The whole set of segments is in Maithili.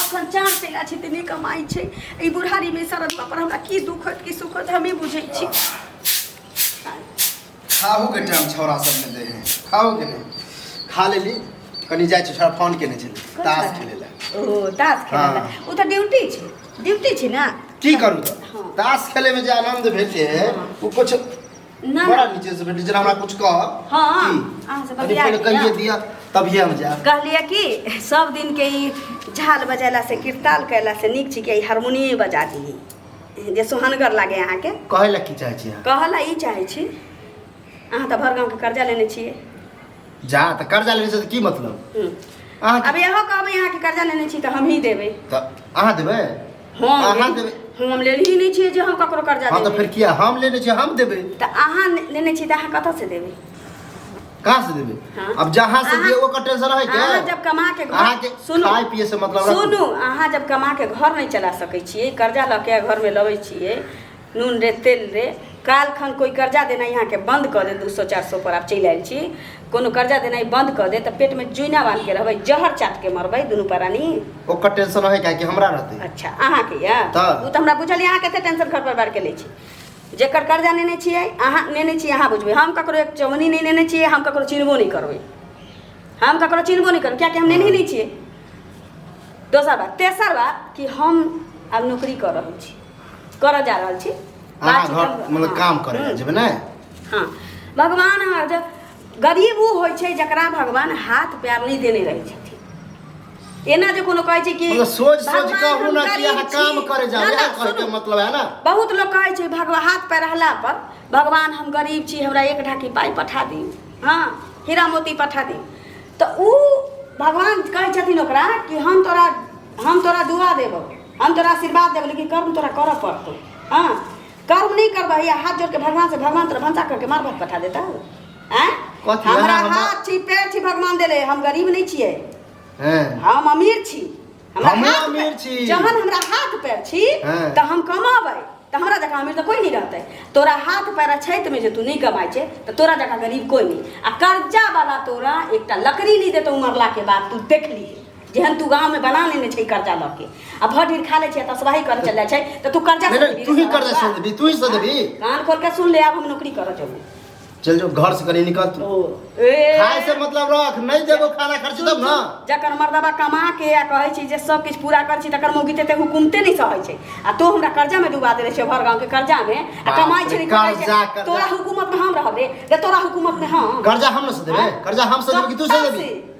अखन चार चला छै तऽ नहि कमाइ छै एहि बुढ़ारीमे शरद पर हमरा की दुख होत की सुख होत हमे बुझै छी खाहू के टाइम छौड़ा सब ने दे है खाओ के नहीं खा ले ली कनी जाए छौड़ा फोन केने छे ताश खेले ला ओ ताश खेले ला हाँ। ओ तो ड्यूटी छे ड्यूटी छे ना की करू हाँ। ताश खेले में जे आनंद भेटे है हाँ। वो कुछ ना बड़ा नीचे से बैठी जेना हमरा कुछ कह हाँ अहाँ से अरे बतिया पहले के कहिए ना। दिया तब ये हम जाए कहलिए कि सब दिन के ई झाल बजेला से किरताल कैला से नीक छी के ई हारमोनियम बजा दी जे सोहनगर लागे अहाँके कहे ला की चाहे छी अहाँ? कहला ई चाहै छी अहाँ तऽ भर गाँवके कर्जा लेने छियै जा तऽ कर्जा लेने से की मतलब हम्म। अहाँ अब इहो कहबै अहाँके कर्जा लेने छी तऽ हमही देबै तऽ अहाँ देबै हम अहाँ लेने- देबै। हम हम लेने ही नहीं छिए जे हम ककरो कर्जा हाँ तो देबै फिर किया हम लेने छे हम देबे तऽ अहाँ ने- लेने छी तऽ अहाँ कतऽ से देबै कहाँ से देबे हाँ। अब जहाँ से अहाँ- दिए ओकर टेंशन है क्या अहाँ जब कमा के अहाँ के घर सुनू खाए पिए से मतलब रखू। सुनू अहाँ जब कमा के घर नहीं चला सकै छियै कर्जा लऽ के घर में लबै छियै नून रे तेल रे काल खन कोई कर्जा देना यहाँ के बंद कर दे दू सौ चार सौ पर आप चल आयल छी कोनो कर्जा देना बंद कर दे तो पेट में जुइना बांध के रहबे जहर चाट के मरबे दोनों परानी ओकर टेंशन रहे क्या कि हमरा रहते अच्छा अहाँ के या तऽ। उ तो हमरा बुझल अहाँ कते टेंशन घर पर बार के ले छी जेकर कर्जा नेने छियै अहाँ नेने छियै अहाँ बुझबै हम ककरो एक चौनी नहीं नेने छियै हम ककरो चिन्हबो नहीं करबै हम ककरो चिन्हबो नहीं करबै कियाकि हम नेने नहीं छियै दोसर बात तेसर बात कि हम आब नौकरी कर रहल छी करऽ जा रहल छी अहाँ बातचीत घर हम- मतलब हँ। काम करे जेबै ने हाँ भगवान हर जग गरीब ऊ होइ छै जकरा भगवान हाथ पैर नहि देने रहै छथिन एना जे कोनो कहै छै कि मतलब सोच सोच भगवान के हम अबू ना कि गरीब अहाँ छी। काम करे जाबै ना, ना, इएह कहै के सुनू। मतलब है ना बहुत लोग कहै छै भगवान हाथ पैर रहला पर भगवान हम गरीब छी हमरा एक ढाकी पाइ पठा दी हाँ हीरा मोती पठा दी तऽ ऊ भगवान कहै छथिन ओकरा कि हम तोरा हम तोरा दुआ देबौ हम तोरा आशीर्वाद देबो लेकिन कर्म तोरा करऽ पड़तो हाँ कर्म नहीं करबा या हाथ जोड़ के भगवान से भगवान तोरा भंसा करके मार भात पठा देता हैं कथी हमरा अहाँ हमरा- हाथ छी पैर छी भगवान देले हम गरीब नहीं छिए हैं हम अमीर छी हमरा हमहूँ हाथ अमीर पैर- छी। जहन हमरा हाथ पैर छी हाँ। तऽ हम कमाबै तऽ हमरा जकाँ अमीर तऽ कोई नहीं रहतै तोरा हाथ पैर छैत में जे तू नहीं कमाइ छै तऽ तोरा जकाँ गरीब कोई नहीं आ कर्जा वाला तोरा एकटा लकड़ी नहीं देतौ मरला के बाद तू देख ली जेहन तू गाँव में बना लेने छै कर्जा लऽ के आ भर ढीर खा ले छै तऽ सवाही करे चल जाइ छै तऽ तू कर्जा नहीं, नहीं, तू ही कर्जा सुन देबी, तू ही सुन देबी। कान खोल के सुन ले आब हम नौकरी करऽ जेबो चल जो घर से कहीं निकल तू ओ ए खाए से मतलब रख नहीं देबो खाना खर्च तब ना जकर मर्दबा कमा के आ कहै छै जे सब किछु पूरा करै छै तकर मौगी ते हुकुमते नहि सहै छै आ तो हमरा कर्जा में डुबा देले छै भर गांव के कर्जा में आ बाप कमाइ रे, छै कर्जा, कर्जा। तोरा हुकूमत में हम रहबे रे तोरा हुकूमत में हम कर्जा हम ना से देबे हाँ? कर्जा हम से देबे कि तू से कब देबी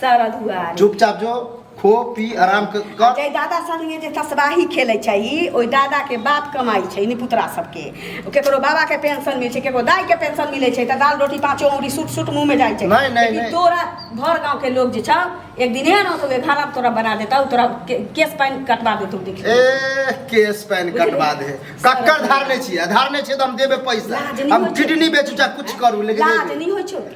सारा दुआर चुपचाप जो खो पी आराम क- कर जे दादा संगे जे तसबाही खेलै छै ई ओहि दादा के बाप कमाई छै निपुतरा सबके केकरो बाबा के पेंशन मिलै छै केकरो दाई के पेंशन मिलै छै तऽ दाल रोटी पाँचो औरी सूट सूट मुंह में जाइ छै नहि, नहि, लेकिन नहि। तोरा भर गांव के लोग जे छौ एक दिन एहन होतौ घर आब तोरा बना देतौ तोरा के- केस पानि कटवा देतौ देख ले। ए केस पैन कटवा दे कक्कर धार नहि छियै धार नहि छियै तऽ हम देबे पैसा लाज नहि हम होइ छै। किडनी बेचू चाहे कुछ करू लेकिन लाज देबे। नहि होइ छौ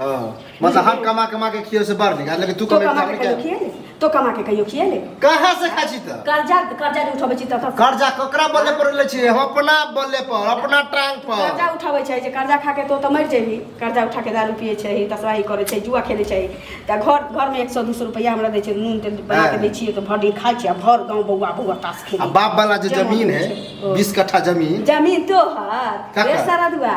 हाँ मतलब हम कमा कमा के खियो से बढ़ नहीं लेकिन तू तो कमे कमा के कहियो खिए ले तो कमा के कहियो खिए ले कहाँ से खा छी त कर्जा कर्जा जे उठबै छी त कहाँ से? कर्जा ककरा बल्ले पर ले छी हम अपना बल्ले पर अपना टांग पर कर्जा उठबै छै जे कर्जा खा के तो तऽ मरि जेबही कर्जा उठा के दारू पिए छै तसवाही करै छै जुआ खेलै छै तऽ घर घर में एक सौ दू सौ रुपया हमरा दै छै नून तेल बना के दै छियै तऽ भर दिन खाइ छियै आ भर गाँव बौआ बौआ तास आ खेली बाप वाला जो जमीन है ओ। बीस कट्ठा जमीन जमीन तो हर ककर? रे सारा दुआ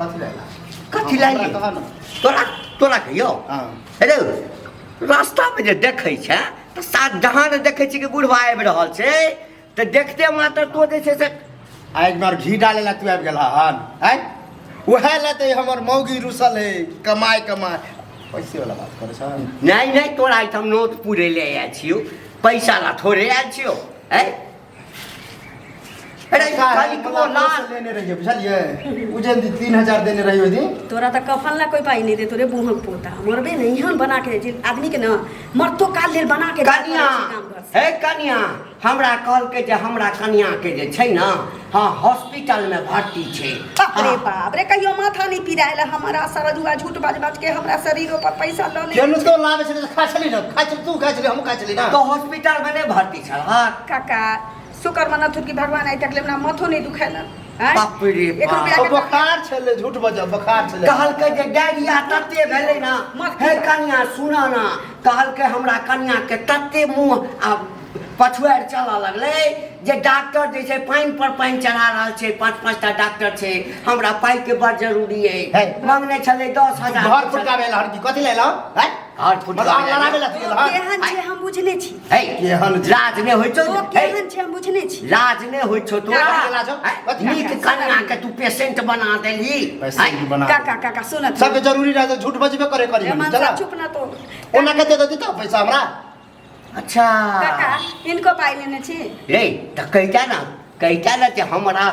कथी रहला कथी हाँ, लाइए तोरा तोरा तोरा कहियो हाँ। अरे रास्ता में जे देखै छै तऽ सात जहाँ ने देखै छी कि बुढ़वा आबि रहल छै तऽ देखते मात्र तो जे छै से आइ हमर घी डाले ला तू आबि गेला हन आय उहे ला ते हमर मौगी रुसल है कमाय कमाय पैसे वाला बात करे छ नहीं नहीं तोरा आइटम नोट पूरे ले आयल छियो पैसा ला थोड़े आयल छियो आय अरे खाली को लाल लेने रहिए बुझलिए उ जे 3000 देने रहिए ओहि दिन तोरा तऽ कफन ला कोई पाई नहीं दे तोरे बूढ़ पोता मरबे नहीं हम बना के जे आदमी के ना मरतो काल लेल बना के कनिया हे कनिया हमरा कहलकै जे हमरा कनिया के जे छै ने हँ हॉस्पिटल में भर्ती छै बाप रे बाप रे कहियो माथा नहीं पिरायल हमारा सरजुआ झूठ बाज बाज के हमरा शरीर पर पैसा लऽ ले केनु तो लावे छै खा छली ना खा छली तू खा छली हम खा छली ना तो हॉस्पिटल में नहीं भर्ती छलहक काका शुक्र मना थुर की भगवान आइ तक लेमना माथो नहीं दुखेला हैं? बाप रे एक बाप। रुपया ओ के बोखार छलै झूठ बजब बोखार छलै कहलकै जे डायरिया तते भेलै ना मत हे किया। कनिया सुन ना कहलकै हमरा कनिया के तते मुंह आ पछुआर चलऽ लगलै जे डॉक्टर जे छै पानि पर पानि चढ़ा रहल छै पाँच पाँच टा डॉक्टर छै हमरा पाइ के बड़ जरूरी है। है मंगने छलै दस हजार घर फुटका भेल हर की कथी लेलहुँ हैं हर फुट मतलब आब लड़ाबे ला तू ओ केहन छै हम बुझने छी हे केहन छै? लाज ने होइ छौ ओ केहन छै हम बुझने छी लाज ने होइ छौ तो काका के लाज हौ? कथी काका? नीक कन्या के तू पेशेंट बना देली पैसा की बना काका काका सुन तू। सबके जरूरी रहै झूठ बजबे करे करी ए, मानसा, चला चुप ना तो ओना के दे देती तो पैसा हमरा अच्छा काका इनको पाइ लेने छी रे तऽ कहिता ने कहिता ने जे हमरा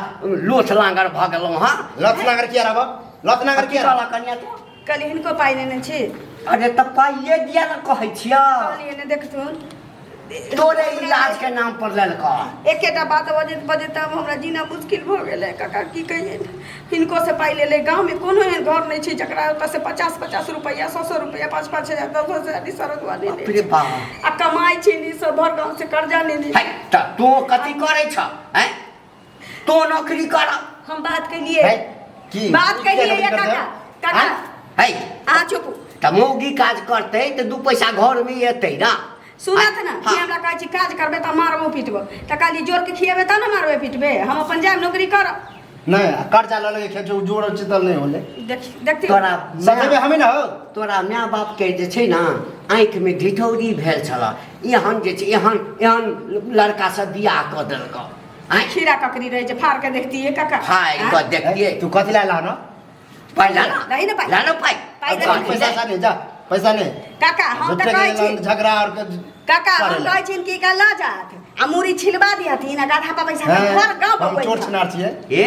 लोथ लांगर भऽ गेलहुँ हँ लत नागर किया रहब लत नागर किया रहब कन्या तो कल हिनको पाइ लेने छी अरे तऽ पाइए दिया ने कहै छियौ कहलियै ने देखथुन तोरे इलाज के नाम पर ललका एकेटा बात बजैत बजैत आब हमरा जीना मुश्किल भऽ गेलै काका की कहियै हिनको से पाइ लेलै गाँवमे कोनो एहन घर नहि छै जकरा ओतऽ से पचास पचास रुपैआ सौ सौ रुपैआ पाँच पाँच हजार दस दस हजार ई सड़क बाप वाले रे बाप आ कमाइ छै ने सब भर गाँव से कर्जा लेने है तऽ तू कथी करै छऽ हैं तो नौकरी कर हम बात के लिए है की बात के लिए ये काका काका है आ चुप त मौगी काज करते त दू पैसा घर में एते ना सुनत ना कि हमरा कहै छी काज करबे त मारबो पिटबो त काली जोर के खिएबे त ना मारबे पिटबे हम अपन जाम नौकरी कर नहीं कर्जा ले लेके खेत जोड़ चितल नहीं होले देख देखती तोरा सकेबे हमें ना हो तोरा माय बाप के जे छै ना आँख में ढिठौरी भेल छला एहन जे छै एहन एहन लड़का सब बियाह क देलक आँय? खीरा ककड़ी रहे जे फाड़ के देखतिए काका हाँ एक बार देखिए तू कथी ला लानो पाई लाना नहीं ना पाई। लाना पाई पाई अब लाना। कहाँ पैसा सा नहीं जा पैसा नहीं काका हम झूठे तऽ कहै के छी झगड़ा और के काका हम करेला। कहै छी कि का लऽ जात आ मूड़ी छिलबा दिहथिन आ गाधा पर बैसा हाँ, के घर गाँव हम चोर बबैत छिनार छिए ए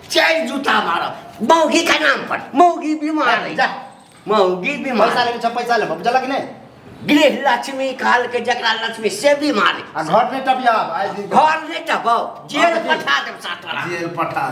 चारि जूता मारब मौगी का नाम पर मौगी बीमार है जा मौगी बीमार पैसा लेके छ पैसा लेब बुझलक कि नहि गृह लक्ष्मी काल के जकरा लक्ष्मी से बीमार है आ घर नहि टपियाब आइ दिन घर नहीं टपो जेल पठा देव सातरा जेल पठा दे